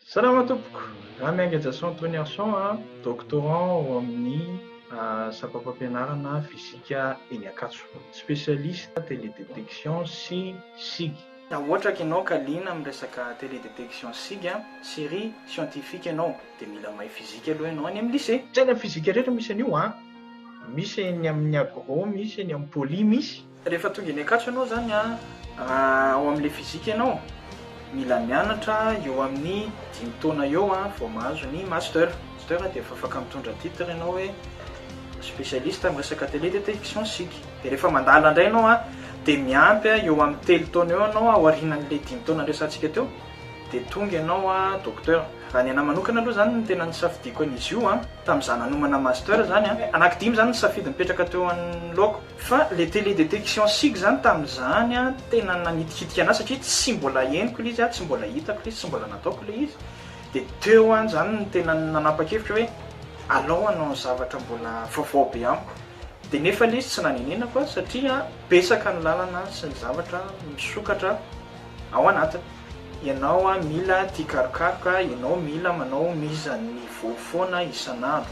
Salama tompoko, za Miainga Jason Toniarson a, doctorant ao amin'ny sampam-pampianarana fisika eny Ankatso, spécialiste télédétection sy sig. Raha ohatra ka ianao ka liana amin'ny resaka télédétection sy sig, série scientifique ianao dia mila mahay fizika aloha ianao any amin'ny lycée. Tsy any amin'ny fizika rehetra misy an'io a, misy eny amin'ny agro, misy eny amin'ny poly misy. Rehefa tonga eny Ankatso ianao zany a, raha ao amin'ilay physique ianao, mila mianatra eo amin'ny dimy taona eo vao mahazo ny master. Master dia efa afaka mitondra titre ianao hoe spécialiste amin'ny resaka télé dia télévision sic. Dia rehefa mandala indray ianao a, dia miampy eo amin'ny telo taona eo ianao aorianan'ilay dimy taona niresahantsika teo, dia tonga ianao docteur. Raha ny anahy manokana aloha izany no tena nisafidiako an'izy io a, tamin'izaho nanomana master izany a, anaky dimy izany ny safidy nipetraka teo anoloako. Fa le télé détection sic zany tamin'izany an tena nanitikitika anah satria tsy mbola henoko le izy an, tsy mbola hitako le izy, tsy mbola nataoko le izy, de teo an zany no tena nanapa-kevitra hoe alao hanao ny zavatra mbola vaovao be amiko, de nefa le izy tsy nanenenako an satria betsaka ny lalana sy ny zavatra misokatra ao anatiny, ianao an mila tia karokaroka, ianao mila manao mise à niveau foana isan'andro.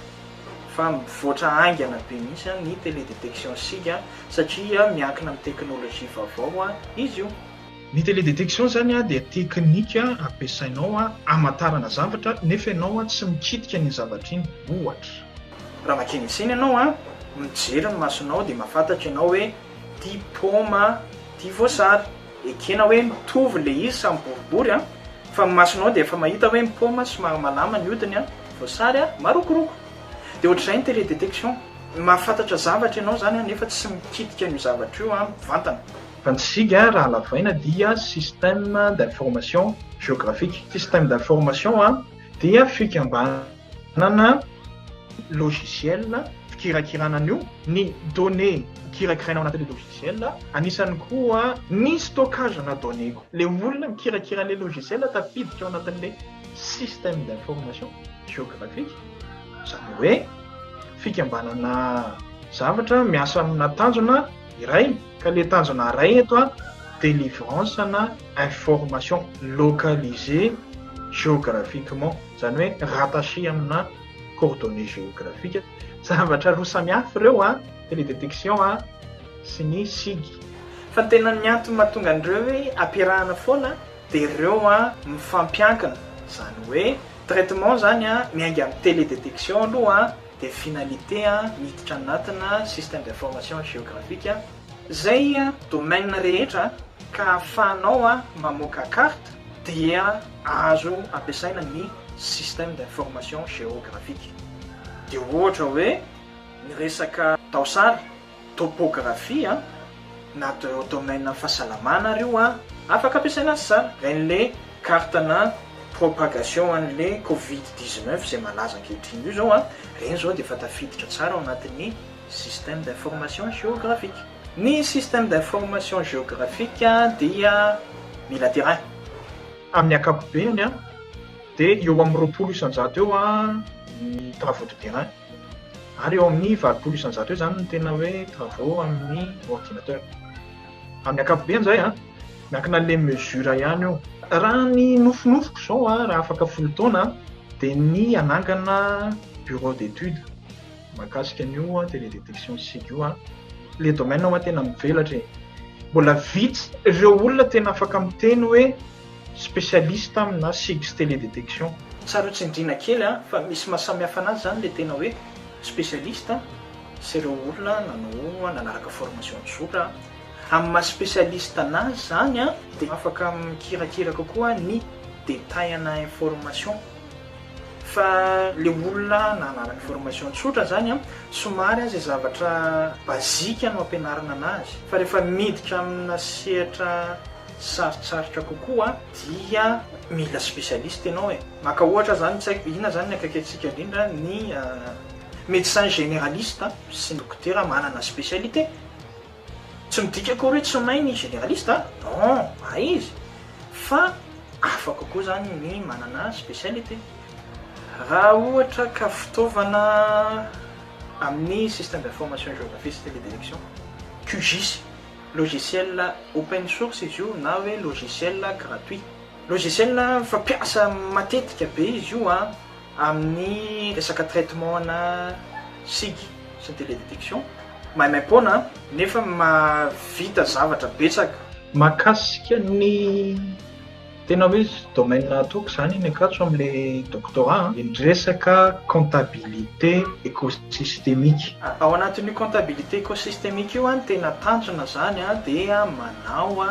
fa mivoatra haingana be mihitsy ny télé détection sika satria miankina amin'ny teknolojia vaovao izy io. Ny télé détection izany dia teknika ampiasainao hamantarana zavatra nefa ianao tsy mikitika an'iny zavatra iny. Ohatra. Raha makeny an-tsena ianao, mijery ny masonao dia mahafantatra ianao hoe ity paoma ity voasary. Ekena hoe mitovy le izy samy boribory an! Fa ny masonao dia efa mahita hoe ny paoma somary malama ny hodiny an! Voasary an! Marokoroko! Dia ohatr'izay ny télé détection! Mahafantatra zavatra ianao izany an! Nefa tsy mikitika an'io zavatra io an! Mivantana! Fa ny sig an! Raha lavaina dia système d'information géographique. Système d'information an! Dia fikambanana. Manana logiciel fikirakirana an'io, ny données kirakiraina ao anatin'ilay logiciel, anisany koa ny stockage-na données-ko. Ilay olona mikirakira ilay logiciel tafiditra ao anatin'ilay système d'information géographique, izany hoe fikambanana zavatra miasa amina tanjona iray, ka ilay tanjona iray eto délivrance-na information localisée géographiquement. izany hoe rattaché amina coordonnées géographiques, zavatra roa samy hafa ireo an, télédétection an sy ny sig. Fa ny tena ny antony mahatonga an'ireo hoe ampiarahana foana dia ireo an mifampiankina, izany hoe traitement izany an miainga amin'ny télédétection aloha an dia finalité an miditra anatina système d'information géographique izay domaine rehetra ka ahafahanao an mamoaka carte dia azo ampiasaina ny système d'information géographique. Dia ohatra hoe ny resaka taosary, topographie, na domaine fahasalamana ary io afaka ampiasaina azy tsara. Raha an'ilay carte-na propagation an'ilay covid dix-neuf izay malaza ankehitriny io izao, ireny izao dia efa tafiditra tsara ao anatin'ny système d'information géographique. Ny système d'information géographique dia mila terrain. Amin'ny ankapobeny dia eo amin'ny roapolo isan-jato eo ny travaux de terrain ary eo amin'ny valopolo isan-jato eo izany ny tena hoe travaux amin'ny ordinateur. Amin'ny ankapobeny izay an, miankina an'ilay mesure ihany io. Raha ny nofinofiko izao raha afaka folo taona dia ny hanangana bureau d'études. Mahakasika an'io an, télé détection isika io an, le domaine hoa tena mivelatra e, mbola vitsy ireo olona tena afaka miteny hoe spécialiste amina sig sy télé détection. Tsara tsindriana kely an, fa misy maha samy hafa anazy zany le tena hoe spécialiste sy ireo olona nanao nanaraka formation an-tsotra an. Amin'ny maha spécialiste anazy zany an, dia afaka mikirakira kokoa ny détail ana information. Fa le olona nahalala ny formation tsotra zany an, somary an ze zavatra basique no ampianarina anazy, fa rehefa miditra amina sehatra sarotsarotra kokoa dia mila specialiste enao e! Maka ohatra zany tsy haiko inona zany ny akaikitsika indrindra ny médecin généraliste sy ny dokotera manana specialité. Tsy midika akory hoe tsy mahay ny generaliste a! Non, mahay izy fa hafa kokoa izany ny manana spécialité. Raha ohatra ka fitaovana amin'ny système d'information géographie sy télédirection, QGIS, logiciel open source izy io na hoe logiciel gratuit. Logiciel fampiasa matetika be izy io a! Amin'ny resaka traitement ana sigy sy ny télé détection maimaim-poana nefa mahavita zavatra betsaka. Mahakasika ny tena hoe domaine ataoko izany eny Ankatso amin'ilay doctorat an, ny resaka comptabilité écosystémique. Ao anatin'io comptabilité écosystémique io an, tena tanjona izany an, dia manao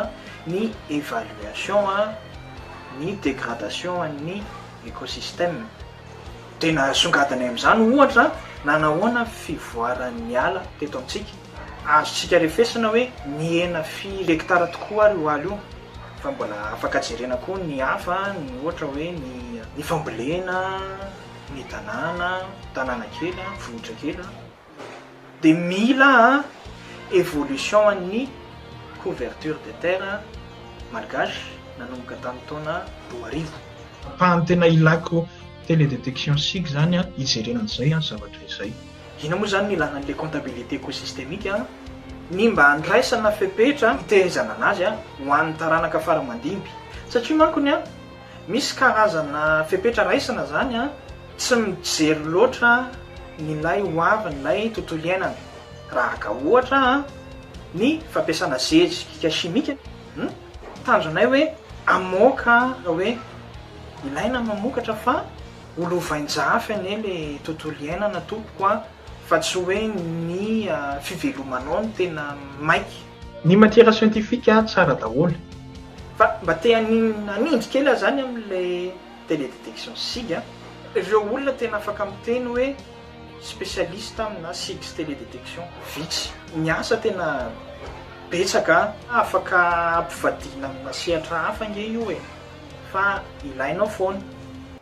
ny évaluation ny dégradation an'ny. écosystème. Tena asongadinay amin'izany ohatra na nahoana ny fivoaran'ny ala teto amintsika. Azontsika refesina hoe nihena firy hekitara tokoa ary io ala io. Fa mbola afaka jerena koa ny hafa, ny ohatra hoe ny ny fambolena, ny tanàna, tanàna kely, vohitra kely. dia mila évolution an'ny couverture des terres malgaches nanomboka tamin'ny taona roa arivo. Ampahany tena ilako télédétection sig izany hijerena an'izay zavatra izay. Inona moa izany no ilana an'ilay comptabilité écosystémique? Ny mba handraisana fepetra hitaizana an'azy ho an'ny taranaka faramandimby. Satria mankony. Misy karazana fepetra raisina zany an, tsy mijery loatra nilay ho avin ilay tontolo iainana, rahaga ohatra an ny fampiasana zeji kika simika, hum tanjonay hoe amoaka hoe ilaina mamokatra fa ho lovain jafy anie le tontolo iainana tompoko an. Fa tsy hoe ny fivelomanao no tena maika. Ny matiera siantifika tsara daholo. Fa mba te hanindry kely aho zany amin'ilay télé détection sig a. Ireo olona tena afaka miteny hoe spécialiste amina sig sy télé détection vitsy. Ny asa tena betsaka a. Afaka ampivadiana amina sehatra hafa ange io e. Fa ilainao foana.